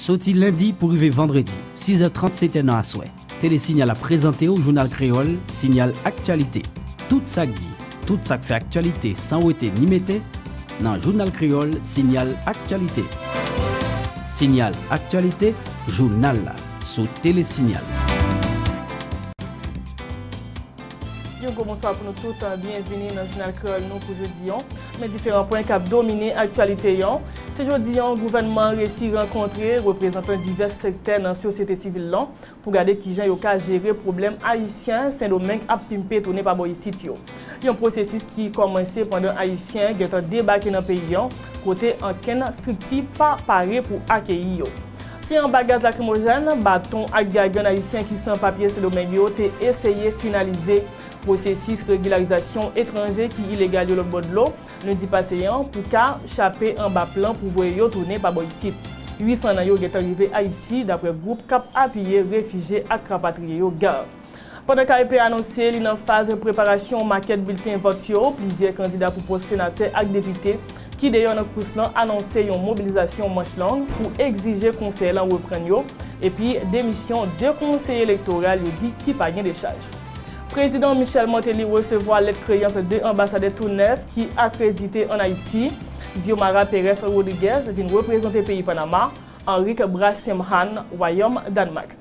Soti lendi pou rive vandredi, 6 è 30, 7 è nan aswè, Tele Signal ap prezante w jounal kreyòl Signal Aktyalite. Tout sa k di, tout sa k fè aktyalite san wete ni mete, nan jounal kreyòl Signal Aktyalite. Signal Aktyalite, jounal la, sou Tele Signal. Yon gwo bonswa pou nou tout, byenvini nan jounal kreyòl nou pou jodi an. Men diferan pwen k ap domine aktyalite an. Se jodi an gouvènman an resi rankontre reprezantan divès sektè nan sosyete sivil lan pou gade kijan yo ka jere pwoblèm ayisyen Sendomeng ap pimpe tounen pa bò isit yo. Yon pwosesis ki kòmanse pandan ayisyen gentan debake nan peyi an kote ankenn strikti pa pare pou akeyi yo. Se anba gaz lakrimojèn, baton ak gagyon ayisyen ki san papye Sendomeng yo te eseye finalize pwosesis regilarizasyon etranje ki ilegal yo lòtbò dlo, lendi pase an, pou ka chape anba plan pou voye yo tounen pa bò isit. 800 nan yo gentan rive Ayiti, daprè gwoup k ap apiye refije ak rapatriye yo, GARR. Pandan KEP anonse li nan faz preparasyon makèt bilten vòt yo, plizyè kandida pou pòs senatè ak depite ki deyò nan kous lan anonse yon mobilizasyon manch long pou egzije konsèy lan reprann yo epi demisyon 2 konseye elektoral yo di ki pa gen dechaj. Prezidan Michel Martelly resevwa lèt kreyans 2 anbasadè tou nèf ki akredite ann Ayiti, Xiomara Pérez Rodriguez vin reprezante peyi Panama, Henrique Brassemhan wayòm Dànmak.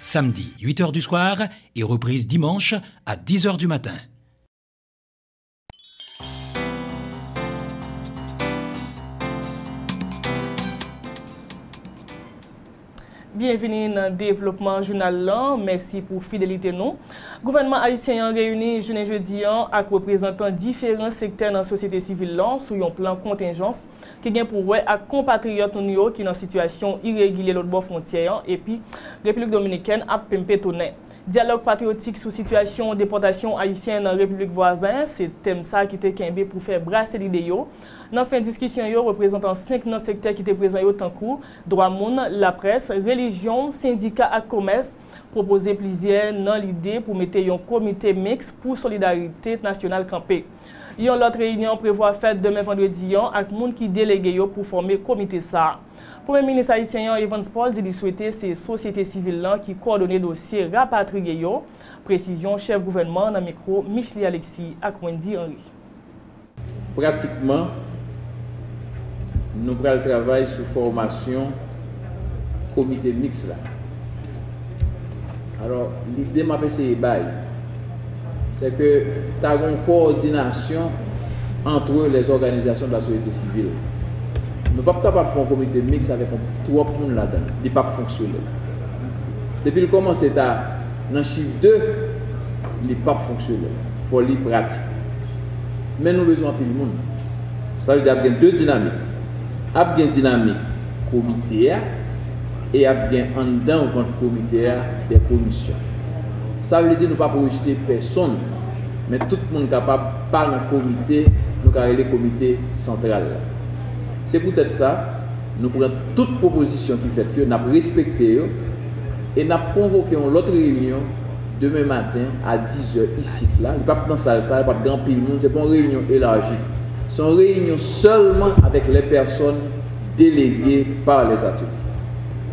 Samedi, 8 heures du soir et reprise dimanche à 10 heures du matin. Byenvini nan devlopman jounal lan, mèsi pou fidelite nou. Gouvènman ayisyen an reyini jounen jedi an ak reprezantan diferan sektè nan sosyete sivil lan sou yon plan kontenjans ki gen pou wè ak konpatriyòt nou yo ki nan sitiyasyon iregilye lòtbò fwontyè an epi Repiblik Dominikèn ap pimpe tounen. Dyalòg patriyotik sou sitiyasyon depòtasyon Ayisyen nan repiblik vwazen, se tèm sa ki te kenbe pou fè brase lide yo. Nan fen diskisyon yo, reprezantan 5 nan sektè ki te prezan yo tankou, dwa moun, laprès, relijyon, sendika ak komès, pwopoze plizyè nan lide pou mete yon komite miks pou solidarite nasyonal kanpe. Yon lòt reyinyon prevwa fèt demen vandredi an ak moun ki delege yo pou fòme komite sa. Premye minis ayisyen an Evans Paul di li swete se sosyete sivil lan ki kòdone dosye rapatriye yo, presizyon chèf gouvènman an nan mikwo Michelie Alexis ak Wendy Henry. Pratikman, nou pral travay sou fòmasyon. komite miks la. Alò, lide m ap eseye bay, se ke ta gen yon kowòdinasyon antre lè zòganizasyon de la sosyete sivil. Nou p ap kapab fè yon komite miks avèk yon twòp moun ladan l, li p ap fonksyone. Depi l kòmanse ta nan chif de, li p ap fonksyone. Fò li pratik. Men nou bezwen anpil moun. Sa vle di ap gen de dinamik. Ap gen dinamik komite a e ap gen anndan vant komite a dè komisyon. Sa vle di nou pap rejete pèsonn men tout moun kapab pa nan komite nou ka rele komite santral la. Se poutèt sa nou pran tout pwopozisyon ki fèt yo, n ap respekte yo e n ap konvoke yon lòt reyinyon, demen maten a 10 zè isit la, li p ap nan sal sa, p ap gen anpil moun, se p on reyinyon elaji. Se yon reyinyon sèlman avèk lè pèsòn delege pa lè zatouni.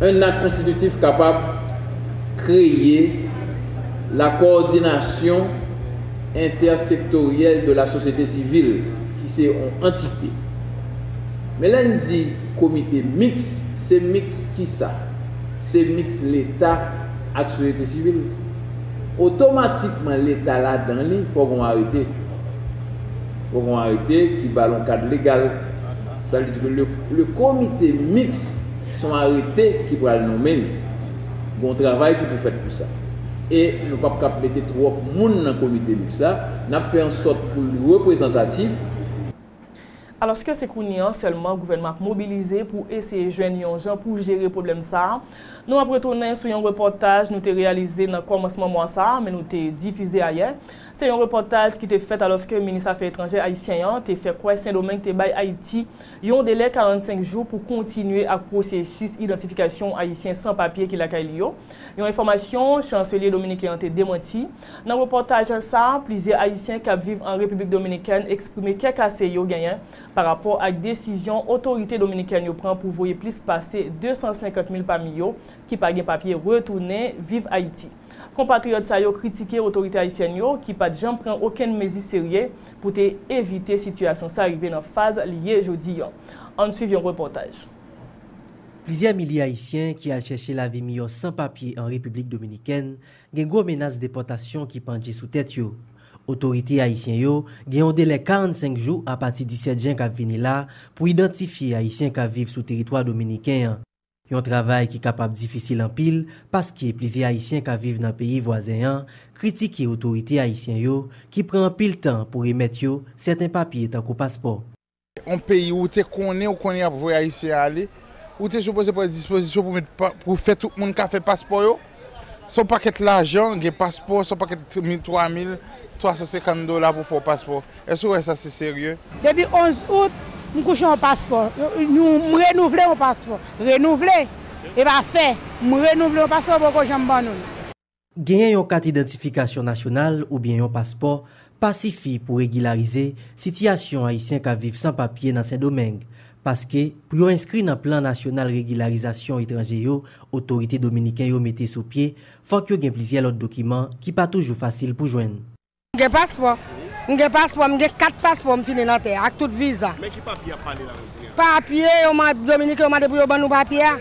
Un ak konstititif kapab kreye la kowòdinasyon entèsektoryèl de la sosyete sivil ki se on antite. Men lè n di komite miks, se miks kisa? Se miks leta ak soyete sivil. Otomatikman leta ladan li fò gon arete. Fò gon arete ki ba l on kad legal. Sa vle di ke le komite miks se on arete ki pral nonmen li. Gon travay ki pou fèt pou sa. E nou pap kab mete twòp moun nan komite miks la. Nap fè an sòt pou l reprezantatif. Alòske se kounye an sèlman gouvènman ap mobilize pou eseye jwenn yon jan pou jere pwoblèm sa a, nou ap retounen sou yon repòtaj nou te reyalize nan kòmansman mwa sa a men nou te difize ayè. Se yon repòtaj ki te fèt alòske minis afè etranjè ayisyen an te fè kwè Sendomeng te bay Ayiti yon delè 45 jou pou kontinye ak pwosesis idantifikasyon Ayisyen san papye ki lakay li yo, yon enfòmasyon chanselye dominiken an te demanti. Nan repòtaj sa a, plizyè Ayisyen k ap viv an Repiblik Dominikèn eksprime kè kase yo genyen pa rapò ak desizyon otorite dominikèn yo pran pou voye plis pase 250 mil pami yo ki pa gen papye retounen viv Ayiti. Konpatriyòt sa yo kritike otorite ayisyèn yo ki pa t janm pran okenn mezi serye pou te evite sitiyasyon sa rive nan faz li ye jodi an. Ann suiv yon repòtaj. Plizyè milye Ayisyen ki al chèche lavi miyò san papye an Repiblik Dominikèn Gen gwo menas depòtasyon ki pandje sou tèt yo. Otorite ayisyen yo gen yon delè 45 jou apati 17 jen k ap vini la pou idantifye ayisyen k ap viv sou teritwa dominiken an, yon travay ki kapab difisil anpil paske plizyè ayisyen k ap viv nan peyi vwazen an kritike otorite ayisyen yo ki pran anpil tan pou remèt yo sèten papye tankou paspò. Yon peyi ou te konnen ou konnen yap voye ayisyen ale ou te sipoze pran dispozisyon pou met pou fè tout moun ka fè paspò yo se yon pakèt lajan gen paspò se yon pakèt 3350 dola pou fè yon paspò èske ou wè sa se serye. Depi 11 out m kouche yon paspò m renouvle yon paspò renouvle e pa fè m renouvle yon paspò poko janm ban nou l. Genyen yon kat idantifikasyon nasyonal oubyen yon paspò pa sifi pou regilarize sitiyasyon ayisyen k ap viv san papye nan Sendomeng, paske pou yo enskri nan plan nasyonal regilarizasyon etranje yo otorite dominiken yo mete sou pye fòk yo gen plizyè lòt dokiman ki pa toujou fasil pou jwenn. M gen paspò. M gen paspò. M gen 4 paspò m fini nan tè a ak tout viza. Men ki papye y ap pale la menm kounye a? Papye yo mande, Dominiken yo mande pou yo ban nou papye a.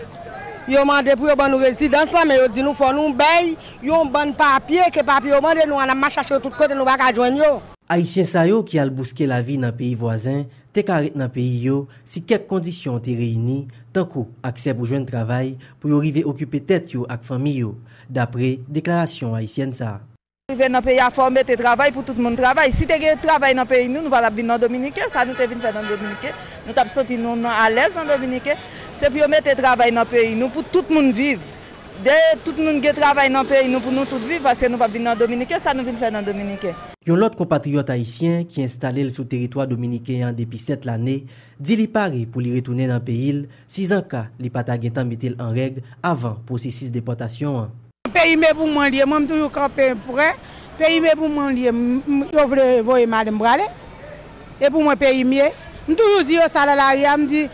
Yo mande pou yo ban nou rezidans lan men yo di nou fò nou bay yon bann papye ke papye yo mande nou an ap mache chache yo tout kote nou pa ka jwenn yo. Ayisyen sa yo ki al bouske lavi nan peyi vwazen te ka ret nan peyi yo si kèk kondisyon te reyini, tankou aksè pou jwenn travay pou yo rive okipe tèt yo ak fanmi yo, dapre deklarasyon ayisyèn sa. Rive nan peyi a fòw mete travay pou tout moun travay si te gen travay nan peyi nou nou patap vin nan dominiken sa nou te vin fè nan dominiken nou tap santi nou nan alèz nan dominiken se pou yo mete travay nan peyi nou pou tout moun viv de tout moun gen travay nan peyi nou pou nou tout viv paske nou pap vin nan dominiken sa nou vin fè nan dominiken. Yon lòt konpatriyòt ayisyen ki enstale l sou teritwa dominiken an depi 7 lane di li pare pou li retounen nan peyi l sizanka li pa ta gentan mete l an règ avan pwosesis depòtasyon an. Peyi me pou mwen liye mwen m toujou kanpe prè peyi me pou mwen liye yo vle voye m ale m prale e pou mwen peyi m ye m toujou di yo sa nan lari a m di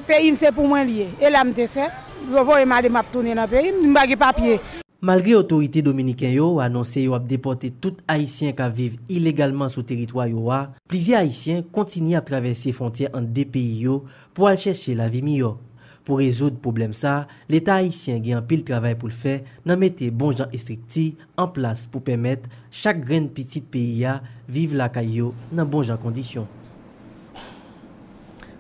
peyi m se pou mwen liye e la m te fèt yo voye m ale map tounen nan peyi m m pa gen papye. Malgre otorite dominiken yo anonse yo ap depòte tout ayisyen k ap viv ilegalman sou teritwa yo a, plizyè ayisyen kontinye ap travèse fwontyè ant 2 peyi yo pou al chèche lavi miyò. Pou rezoud pwoblèm sa, Leta ayisyen gen anpil travay pou l fè nan mete bon jan estrikti an plas pou pèmèt chak grenn pitit peyi a viv lakay yo nan bon jan kondisyon.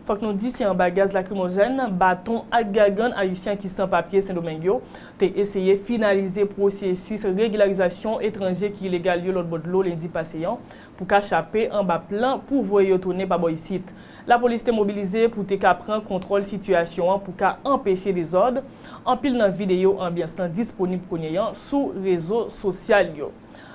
Fòk nou di se anba gaz lakrimojèn, baton ak gagann ayisyen ki san papye Sendomeng yo te eseye finalize pwosesis regilarizasyon etranje ki ilegal yo lòtbò dlo lendi pase an pou ka chape anba plan pou voye yo tounen pa bò isit. Lapolis te mobilize pou te ka pran kontwòl sitiyasyon an pou ka anpeche dezòd. Anpil nan videyo anbyans lan disponib kounye an sou rezo sosyal yo.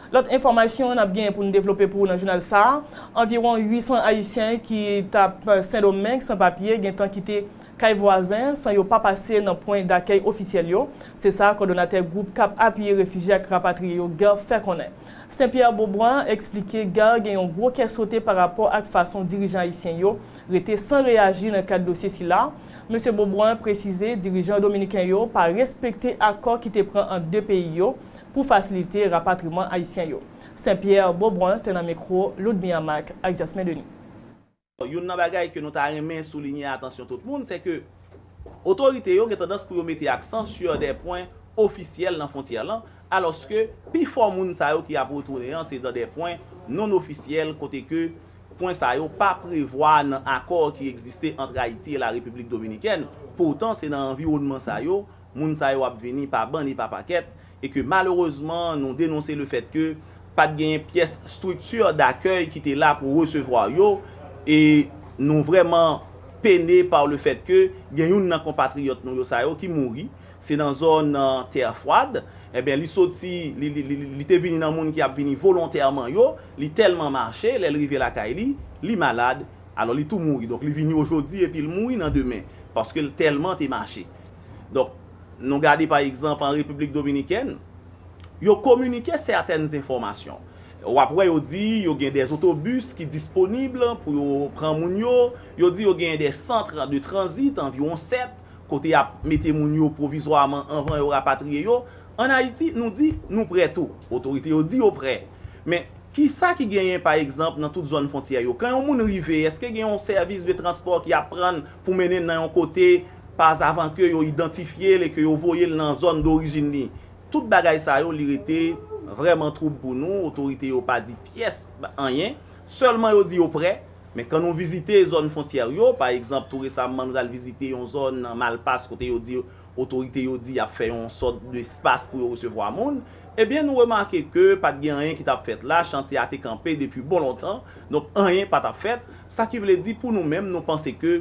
Lòt enfòmasyon nap genyen pou n devlope pou ou nan jounal sa a, anviwon 800 ayisyen ki tap Sendomeng san papye gentan kite kay vwazen san yo pa pase nan pwen dakèy ofisyèl yo, se sa kòdonatè gwoup kap apiye refijye ak rapatriye yo GERF fè konnen. Sen Pierre Beaubois eksplike GARR gen yon gwo kè sote pa rapò ak fason dirijan ayisyen yo rete san reyaji nan kad dosye sila. Mesye Beauboin presize dirijan dominiken yo pa respekte akò ki te pran ant 2 peyi yo pou fasilite rapatriman ayisyen yo. Sen Pierre Beaubrun te nan mikwo Ludmilla Mack ak Jasmin Denis. Youn nan bagay ke nou ta renmen soulinye atansyon tout moun, se ke otorite yo gen tandans pou yo mete aksan sur des points officiels nan fwontyè lan, alòske pi fò moun sa yo ki ap retounen an se dan des points non officiels kote ke pwen sa yo pa prevwa nan akò ki egziste ant Ayiti e la Repiblik Dominikèn. Poutan se nan anviwonnman sa yo moun sa yo ap vini pa bann e pa pakèt e ke malerezman nou denonse le fèt ke pa t genyen pyès strikti dakèy ki te la pou resevwa yo e nou vrèman pene pa le fèt ke gen youn nan konpatriyòt nou yo sa yo ki mouri se nan zòn Terre Froide enben li soti li te vini nan moun ki ap vini volontèman yo li tèlman mache lè l rive lakay li li malad alò li tou mouri donk li vini ojodi epi l mouri nan demen paske l tèlman te mache. Donk, nou gade pa egzanp an Repiblik Dominikèn, yo kominike sètèn enfòmasyon. W ap wè yo di yo gen de zotobis ki disponib pou yo pran moun yo, yo di yo genyen de centre de transit, anviwon 7, kote y ap mete moun yo pwovizwaman anvan yo rapatriye yo. An Ayiti, nou di nou prè tou. Otorite yo di yo prè. Men, ki sa ki genyen pa egzanp nan tout zòn fwontyè yo? Kan yon moun rive, èske gen yon sèvis de transpò ki ap pran l pou mennen l nan yon kote? pas avan ke yo idantifye l e ke yo voye l nan zòn dorijin li. Tout bagay sa yo li rete vrèman twoub pou nou, otorite yo pa di pyès anyen, sèlman yo di yo prè, men kan nou vizite zòn fontyèr yo, pa egzanp tou resamman nou t al vizite yon zòn nan Malpas kote yo di otorite yo di y ap fè yon sòt de espas pou yo resevwa moun, ebyen nou remake ke pa t gen anyen ki t ap fèt la, chantye a te kanpe depi bon lontan, donk anyen pa t ap fèt, sa ki vle di pou nou menm nou panse ke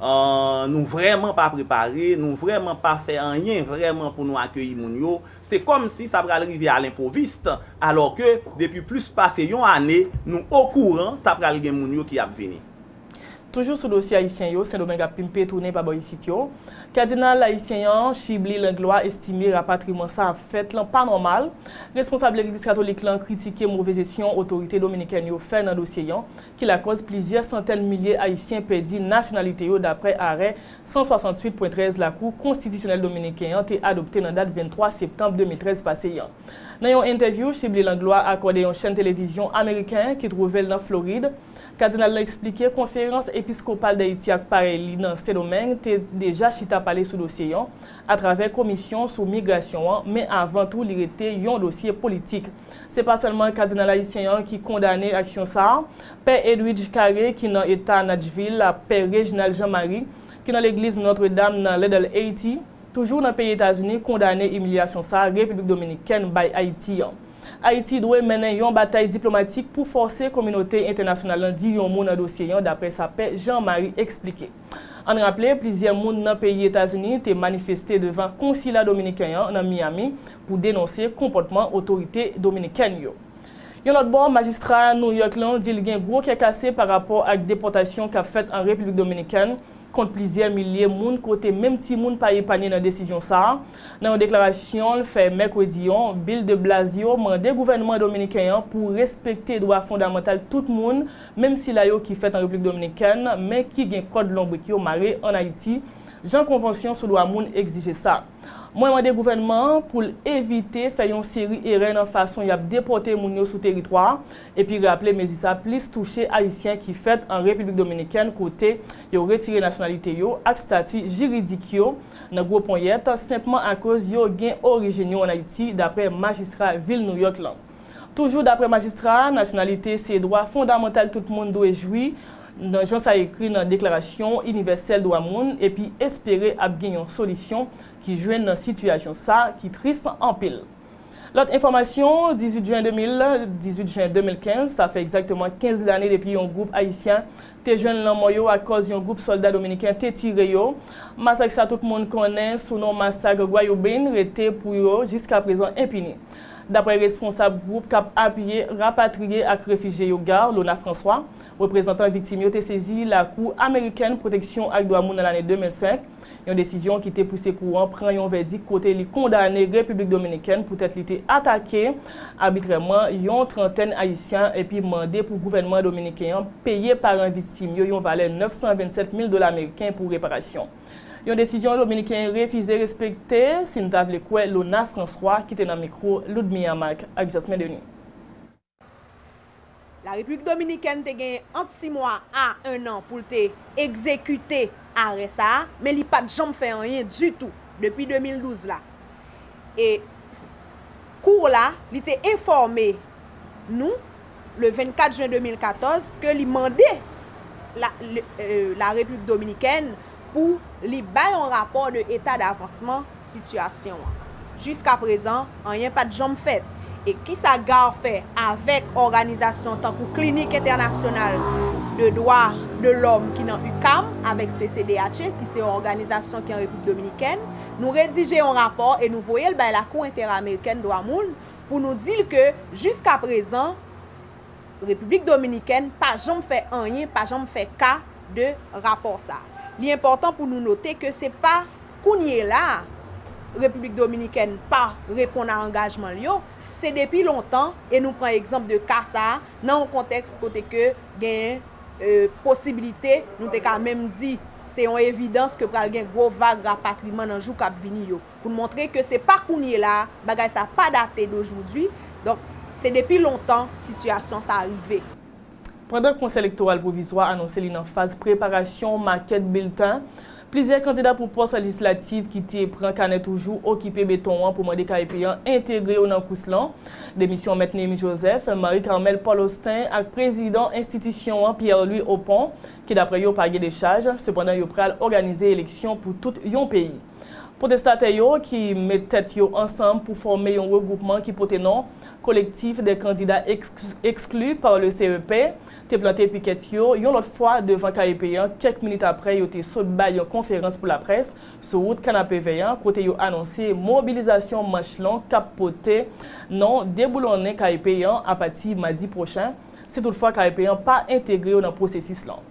Nou vrèman pa prepare, nou vrèman pa fè anyen vrèman pou nou akeyi moun yo, se kòm si sa pral rive a lenpwovist, alò ke depi plis pase yon ane nou okouran ta pral gen moun yo ki ap vini. Toujou sou dosye Ayisyen yo Sendomeng ap pimpe tounen pa bò isit yo, Kadinal Ayisyen an, Chibly Langlois estime rapatriman sa ap fèt lan pa nòmal, responsab Legliz Katolik lan kritike move jesyon otorite Dominikèn yo fè nan dosye an, ki lakòz plizyè santèn milye ayisyen pèdi nasyonalite yo daprè arè 168.13 Lakou konstitisyonèl dominiken an te adopte nan dat 23 septanb 2013 pase an. Nan yon entèvyou Shibly Langlois akòde yon chèn televizyon ameriken ki twouve l nan Florid, kadinal lan eksplike Konferans Episkopal Dayiti ak parèy li nan Sendomeng te deja chita pale sou dosye an atravè Komisyon sou Migrasyon an men avan tou li rete yon dosye politik. Se pa sèlman kadinal ayisyen an ki kondane aksyon sa, Pè Edwidge Carré ki nan eta Natchvil ak Pè Reginald Jean Marie ki nan legliz Notre Dame nan Little Haiti, toujou nan peyi Etazini kondane imilyasyon sa Repiblik Dominikèn bay Ayiti an. Ayiti dwe mennen yon batay diplomatik pou fòse kominote entènasyonal lan di yon mo nan dosye an daprè sa Pè Jean Marie eksplike. Ann raple, plizyè moun nan peyi Etazini te manifeste devan konsila dominiken an nan Miami pou denonse konpòtman otorite dominikèn yo. Yon lòt bò, majistra New York lan di l gen gwo kè kase pa rapò ak depòtasyon k ap fèt an Repiblik Dominikèn kont plizyè milye moun kote menm timoun pa epanye nan desizyon sa a. Nan yon deklarasyon l fè mèkredi an, Bill de Blasio mande gouvènman dominiken an pou respekte dwa fondamantal tout moun menm sila yo ki fèt an Repiblik Dominikèn men ki gen kòd lonbrik yo mare an Ayiti, jan konvansyon sou dwa moun egzije sa. Mwen mande gouvènman an pou l evite fè yon seri erè nan fason y ap depòte moun yo sou teritwa a, epi raple mezi sa plis touche Ayisyen ki fèt an Repiblik Dominikèn kote yo retire nasyonalite yo ak stati jiridik yo nan gwo ponyèt senpman akoz yo gen orijin yo an Ayiti, daprè majistra vil Nouyòk lan. Toujou daprè majistra a, nasyonalite se dwa fondamantal tout moun dwe jwi nan jan sa ekri nan deklarasyon inivèsèl dwa moun epi espere ap gen yon solisyon ki jwenn nan sitiyasyon sa ki tris anpil. Lòt enfòmasyon, 18 jen 2000, 18 jen 2015, sa fè egzakteman 15 lane depi yon gwoup ayisyen te jwenn lanmò yo akòz yon gwoup sòlda dominiken te tire yo. Masak sa tout moun konnen sou non masak Guayubín rete pou yo jiskaprezan enpini. Daprè responsab gwoup k ap apiye rapatriye ak refijye yo GARR, Lona François, reprezantan viktim yo te sezi Lakou amerikèn pwoteksyon ak dwa moun nan lane 2005, Yon desizyon ki te pouse kou an pran yon vèdik kote li kondane Repiblik Dominikèn poutèt li te atake abitrèman yon trantèn Ayisyen epi mande pou gouvènman dominiken an peye paran viktim yo yon valè 927 mil dola meriken pou reparasyon. Yon desizyon dominiken refize respekte, si n ta vle kwè Lona François ki te nan mikwo Ludmilla Marc ak Jasmin Denis. Larepiblik Dominikèn te genyen ant 6 mwa a 1 an pou l te egzekite arè sa a, men li pa t janm fè anyen ditou depi 2012 la. E Cour la, li te enfòme nou le 24 jen 2014 ke li mande Larepiblik Dominikèn, pou li bay yon rapò de eta davansman sitiyasyon an. Jiska prezan, anyen pa t janm fèt. E ki sa GARR fè avèk òganizasyon tankou Klinik Entènasyonal de Dwa de Lòm ki nan UQAM avèk CCDH, ki se yon òganizasyon ki an Repiblik Dominikèn? Nou redije yon rapò e nou voye l bay Lakou Enteramerikèn Dwa Moun pou nou di l ke jiska prezan, Repiblik Dominikèn pa janm fè anyen, pa janm fè ka de rapò sa. Li enpòtan pou nou note ke se pa kounyela a Repiblik Dominikèn pa reponn a angajman l yo, se depi lontan e nou pran egzanp de ka sa nan yon kontèks kote ke genyen posibilite, nou te ka menm di se yon evidans ke pral gen gwo vag rapatriman nan jou k ap vini yo. pou n montre ke se pa kounyela a, bagay sa pa date d'aujourd'hui, donk se depi lontan sitiyasyon sa rive. Pandan Konsèy Elektoral Pwovizwa anonse li nan faz preparasyon makèt bilten, plizyè kandida pou pòs lejislativ ki te pran kanè toujou okipe beton an pou mande KEP an entegre yo nan kous lan, demisyon Mèt Néhémi Joseph, Marie Carmelle Paul Austin ak prezidan enstitisyon an Pierre Louis Opont, ki daprè yo pa gen dechaj, sepandan yo pral òganize eleksyon pou tout yon peyi. Pwotestatè yo ki met tèt yo ansanm pou fòme yon regwoupman ki pote non Collectif des candidats exclus par le CEP te plante pikèt yo yon lòt fwa devan KEP an kèk minit aprè yo te sot bay yon konferans pou laprès sou wout Kanapevè an kote yo anonse mobilizasyon manch long k ap pote non deboulonnen KEP an apati madi pwochen si toutfwa KEP an pa entegre yo nan pwosesis lan.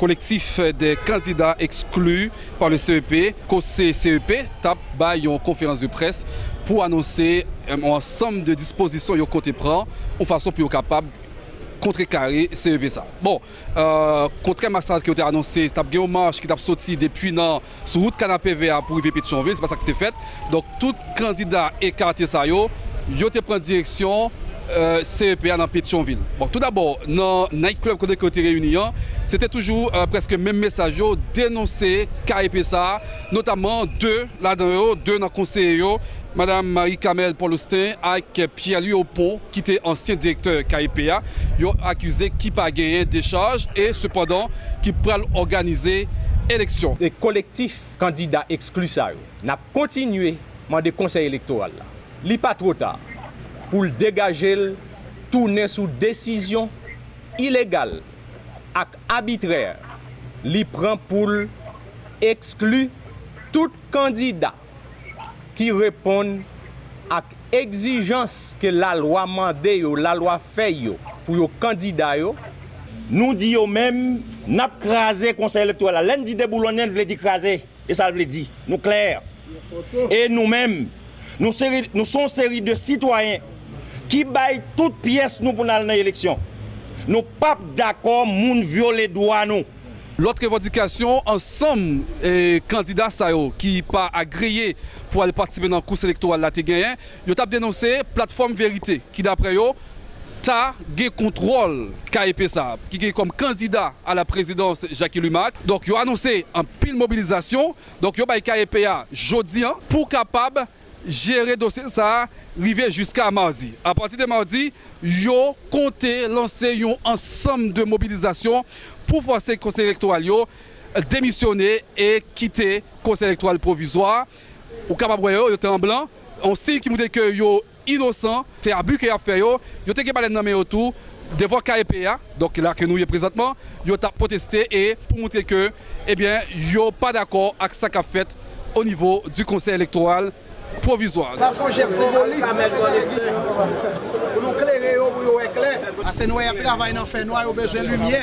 Kolektif dè kandida ekskli pa le CEP, Kose CEP, tap bay yon konferans de près pou anonse yon ansanm de dispozisyon yo konte pran yon fason pou yo kapab kontre kare CEP sa. Bon, kontrèman a sa ke yo te anonse, tap gen yon mach ki tap soti depi nan. Sou wout kanapevè a pou rive Petyonvil, se pa sa ki te fèt. Donk, tout kandida ekate sa yo, yo te pran direksyon CEP a nan Petyonvil. Bon, tou dabò, nan Night Club kote ke yo te reyini an, se te toujou prèske menm mesaj yo, denonse KEP sa a, notamman 2 ladan yo, 2 nan konseye yo, Madam Marie Camelle Paul Austin ak Pierre Louis Opont. ki te ansyen direktè KEP a, yon akize ki pa genyen dechaj e sepandan ki pral òganize eleksyon. E kolektif kandida ekskli sa yo, n ap kontinye mande Konsèy Elektoral la, li pa two ta, pou l degaje l tounen sou desizyon ilegal ak abitrè li pran pou l ekskli tout kandida. ki reponn ak egzijans ke lalwa mande yo, lalwa fè yo pou yo kandida yo. Nou di yo menm, n ap kraze Konsèy Elektoral la. Lè n di deboulonnen, l vle di kraze. E sa l vle di. Nou klè. E nou menm, nou se nou se yon seri de sitwayen ki bay tout pyès nou pou n al nan eleksyon. Nou p ap dakò moun vyole dwa nou. Lòt revandikasyon ansanm kandida sa yo ki pa agreye pou al patisipe nan kous elektoral la te genyen, yo t ap denonse Platfòm Verite ki daprè yo ta gen kontwòl KEP sa a ki gen kòm kandida a la prezidans Jacky Lumac. Donk yo anonse anpil mobilizasyon, donk yo bay KEP a jodi an pou kapab jere dosye sa a rive jiska madi. Apati de madi, yo konte lanse yon ansanm de mobilizasyon pou fòse Konsèy Elektoral yo demisyone e kite Konsèy Elektoral Pwovizwa a. Ou kapab wè yo, yo te an blan, yon siy ki moutre ke yo inosan. Se abi ke y ap fè yo. Yo te gen balèn nan men yo tou devan KEP a, donk ki la ke nou ye prezantman, yo t ap pwoteste e pou moutre ke, ebyen, yo pa dakò ak sa k ap fèt. o nivo di Konsèy Elektoral Pwovizwa. Sa son jès simbolik pou nou tande di pou nou klere yo pou yo wè klè. Ase nwè yap travay nan fè nwa yo bezwen limyè.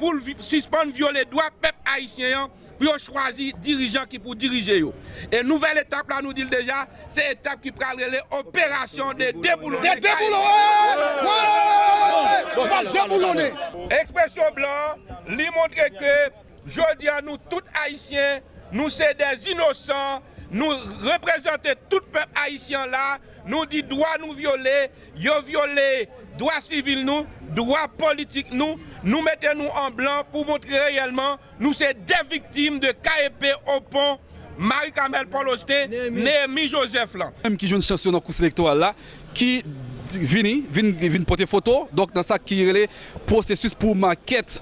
pou l sispann vyole dwa pèp ayisyen an pou yo chwazi dirijan ki pou dirije yo. E nouvèl etap la nou di l deja, se etap ki pral rele operasyon de deboulonnen kayik. Ekspresyon blan an, li montre ke jodi a nou tout ayisyen, nou se dè inosan, nou reprezante tout pèp ayisyen an la, nou di dwa nou vyole, Yo vyole dwa sivil nou, dwa politik nou, nou mete nou an blan pou montre reyèlman nou se de viktim de KEP Opon, Marie Carmelle Paul Austin, Néhémie Joseph lan. Menm ki jwenn chans yo nan kous elektoral la ki vini vin pote foto donk nan sa ki rele pwosesis pou makèt.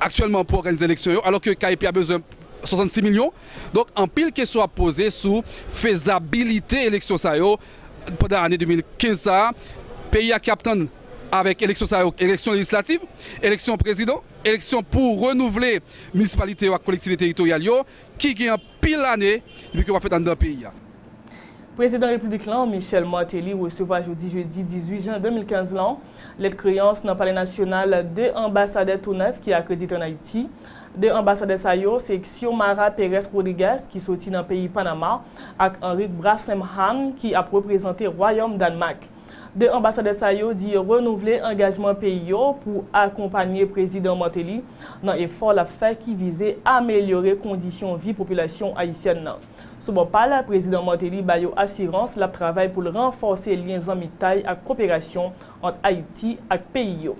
aktyèlman pou òganize eleksyon yo alò ke KEP a bezwen 66 milyon. Donk anpil kesyon ap poze sou fezabilite eleksyon sa yo pandan ane 2015 sa a. Peyi a ki ap tann avèk eleksyon sa yo, eleksyon lejislativ, eleksyon prezidan, eleksyon pou renouvle minisipalite yo ak kolektivite teritoryal yo ki gen. pil ane depi ke wap fèt anndan peyi a. Prezidan Repiblik lan, Michel Martelly resevwa jodi jedi 18 jen 2015 lan, lèt kreyans nan Palè Nasyonal 2 anbasadè tou nèf ki akredite ann Ayiti. 2 anbasadè sa yo se Xiomara Perez Rodriguez ki soti nan peyi Panama ak Henrique Brassemham ki ap reprezante Wayòm Dànmak. 2 anbasadè sa yo di yo renouvle angajman peyi yo pou akonpanye Prezidan Martelly nan efò l ap fè ki vize amelyore kondisyon vi popilasyon ayisyèn nan. Sou bò pa l, Prezidan Martelly ba yo asirans l ap travay pou l ranfòse lyen zanmitay ak koperasyon ant Ayiti ak peyi yo.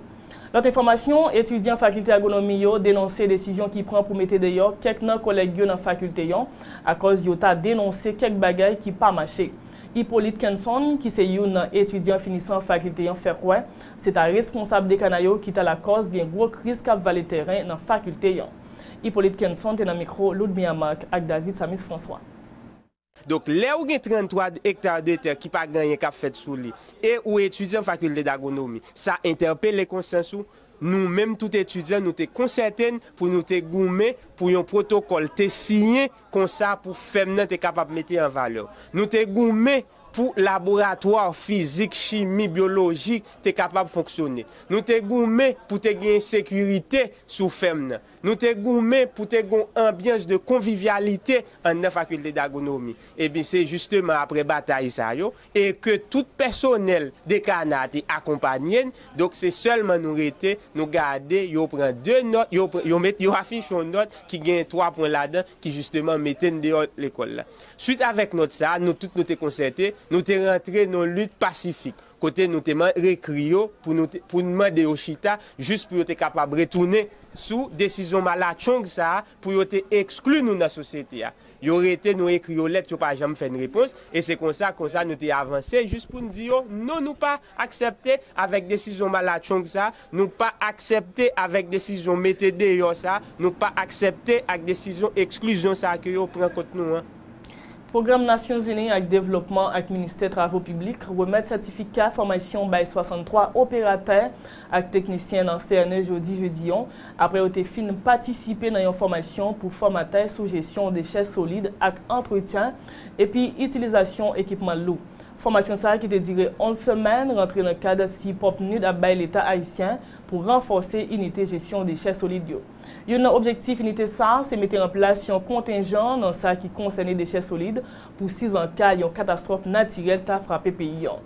Lòt enfòmasyon, Etidyan Fakilte Agwonomi yo denonse desizyon ki pran pou mete deyò kèk nan kòlèg yo nan fakilte an akòz yo ta denonse kèk bagay ki pa mache. Hyppolite Kenson, ki se youn nan etidyan finisan fakilte an fè kwè, se ta responsab dekan a yo ki ta lakòz gen gwo kriz k ap vale tèren nan fakilte an. Hyppolite Kenson te nan mikwo Ludmilla Marc ak David Samus François. Donk, lè ou gen 33 ektar de tè ki pa gen anyen k ap fèt sou li e ou etidyan fakilte dagwonomi, sa entèpele konsyans ou. Nou menm tout etidyan nou te konsète n pou nou te goumen pou yon pwotokòl te siyen, Konsa pou fèm nan te kapab mete an valè. Nou te goumen pou laboratwa fizik, chimi, byoloji te kapab fonksyone. Nou te goumen pou te genyen sekirite sou fèm nan. Nou te goumen pou te gon anbyans de konvivyalite anndan Fakilte d'Agronomi. Ebyen se jisteman apre batay sa yo, e ke tout pèsonèl dekana a te akonpanye n, donk se sèlman nou rete, nou gade yo pran 2 nòt, yo met, yo afiche yon nòt ki gen 3 pwen ladan ki jisteman mete n deyò lekòl la. Swit avèk nòt sa a, nou tout nou te konsète, nou te rantre nan yon lit pasifik, kote nou te man, rekri yo pou nou te, pou n mande yo chita jis pou yo te kapab retounen sou desizyon malatchong sa a pou yo te ekskli nou nan sosyete a. Yo rete nou ekri yo lèt yo pa janm fè n repons e se konsa konsa nou te avanse jis pou n di yo non nou pa aksèpte avèk desizyon malatchong sa, nou pa aksèpte avèk desizyon mete deyò sa, nou pa aksèpte ak desizyon eksklizyon sa ke yo pran kont nou an. Pwogram Nasyonzini ak Devlopman ak Ministè Travo Piblik remèt sètifika fòmaysyon bay 63 operatè ak teknisyen nan CNE jodi jedi an, apre yo te fin patisipe nan yon fòmasyon pou fòmatè sou jesyon dechè solid ak antretyen epi itilizasyon ekipman lou. Fòmasyon sa ki te dire 11 semèn rantre nan kad sipò PNUD ap bay Leta ayisyen pou ranfòse inite jesyon dechè solid yo. Youn nan objektif inite sa se mete an plas yon kontenjan nan sa ki konsène dechè solid pou sizanka yon katastwòf natirèl ta frape peyi an.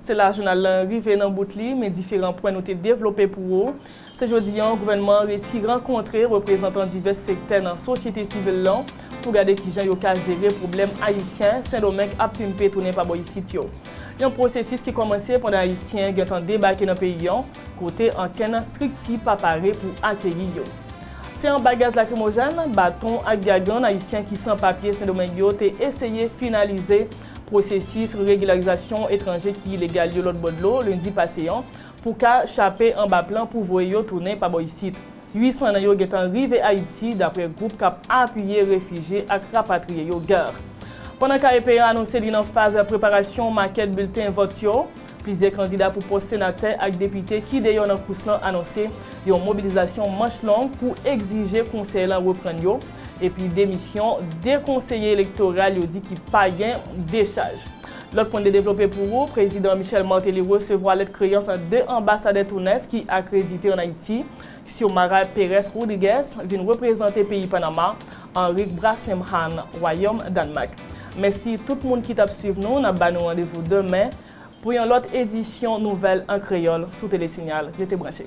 Se la jounal lan rive nan bout li, men diferan pwen nou te devlope pou ou. Se jodi an gouvènman an resi rankontre reprezantan divès sektè nan sosyete sivil lan pou gade kijan yo ka jere pwoblèm Ayisyen Sendomeng ap pimpe tounen pa bò isit yo. Yon pwosesis ki kòmanse pandan Ayisyen gentan debake nan peyi an kote ankenn strikti pa pare pou akeyi yo. Se anba gaz lakrimojèn, baton ak gagann Ayisyen ki san papye Sendomeng yo te eseye finalize pwosesis regilarizasyon etranje ki ilegal yo lòtbò dlo lendi pase an pou ka chape anba plan pou voye yo tounen pa bò isit. 800 nan yo gentan rive Ayiti, daprè gwoup kap apiye refijye ak rapatriye yo GARR. Pandan KEP an anonse li nan faz preparasyon makèt bilten vòt yo, plizyè kandida pou pòs senatè ak depite ki deyò nan kous lan anonse yon mobilizasyon manch long pou egzije konsèy lan reprann yo, epi demisyon 2 konseye elektoral yo di ki pa gen dechaj. Lòt pwen de devlope pou ou, Prezidan Michel Martelly resevwa lèt kreyans 2 anbasadè tou nèf ki akredite an Ayiti, Xiomara Pérez Rodriguez vin reprezante peyi Panama, Henrique Brassem Hann wayòm Dànmak. Mèsi tout moun ki t ap swiv nou, n ap ba nou randevou demen pou yon lòt edisyon nouvèl an kreyòl sou Tele Signal. Rete branche.